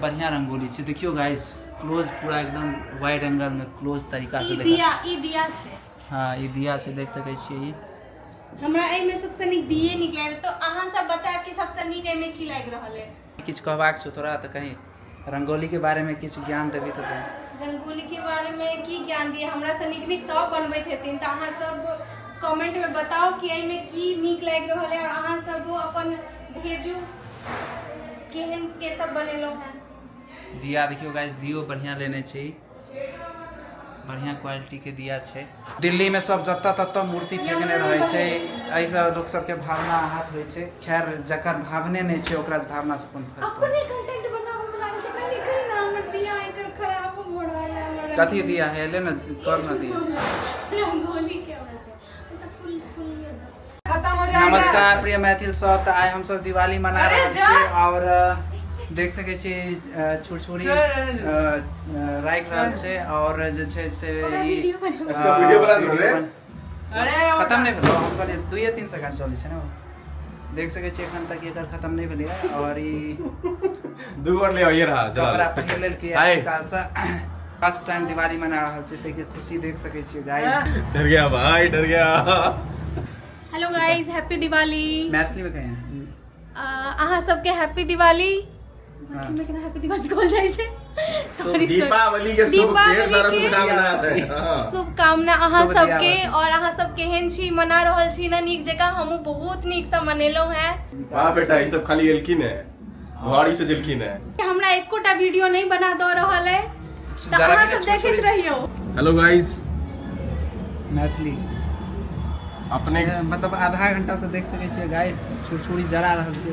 बढ़िया रंगोली छै देखियो गाइस क्लोज पूरा एकदम वाइड एंगल में क्लोज तरीका से देखा दिया ई दिया छै हां ई दिया छै देख सकै छियै ई हमरा ए में सबसे नीक दिए नीक लागे तो अहां सब बता कि सबसे नीक ए में की लाग रहल है किछ कहबाक छौ तोरा त कहीं रंगोली के बारे में किछ ज्ञान देबी त रंगोली के बारे में की ज्ञान दिए हमरा से नीक नीक सब बनबैत हेथिन त अहां सब कमेंट में बताओ कि ए में की नीक लाग रहल है और अहां सब अपन भेजू केहन के सब बनेलहुँ हैं दिया देखियो गाइस दियो बढ़िया लेने छी बढ़िया क्वालिटी के दिया छै दिल्ली में सब जत तत मूर्ति फेंकने रहे छै एहि से लोग सब के भावना आहत होय छै खैर जकर भावने नहीं छै ओकरा भावना से कोन फर्क अपने कंटेंट बनाबो में लागे छै कनी करी ना हमर दिया एकर खराब मोड़ वाला कथी दिया है ले ना कर ना दिया हम गोली के नमस्कार प्रिय मैथिल सब तऽ आइ हमसब दिवाली मना रहल छी आओर देख सकै छी छुरछुरी राखि रहल छै आओर जे छै से ई खतम नहि भेलो हम कहलिए दुइए तीन सेकंड चलै छै ने देख सके छी एखन तक एकर खत्म नहीं भेले है और ई दू बार ले आइए रहा जरा कपड़ा पहन लेल के आय। काल से फर्स्ट टाइम दिवाली मना रहल छै ते के खुशी देख सके छी गाइस डर गया भाई डर गया hello guys happy Diwali Maithili में कहें अहाँ सबके हैप्पी दिवाली दीपावली के शुभकामना अहाँ सबके और अहाँ सब केहन छी मना रहल छी ना नीक जगह हमहू बहुत नीक से मनेलहुँ हैं वाह बेटा ई तो खाली एलखिन है घड़ी से जलखिन है हमरा एकोटा वीडियो नहीं बना दो रहल है तो अहाँ सब देखत रहियो हेलो गाइस मैथिली अपने मतलब आधा घंटा से देख सके गाइस छुरछुरी जरा रहल छै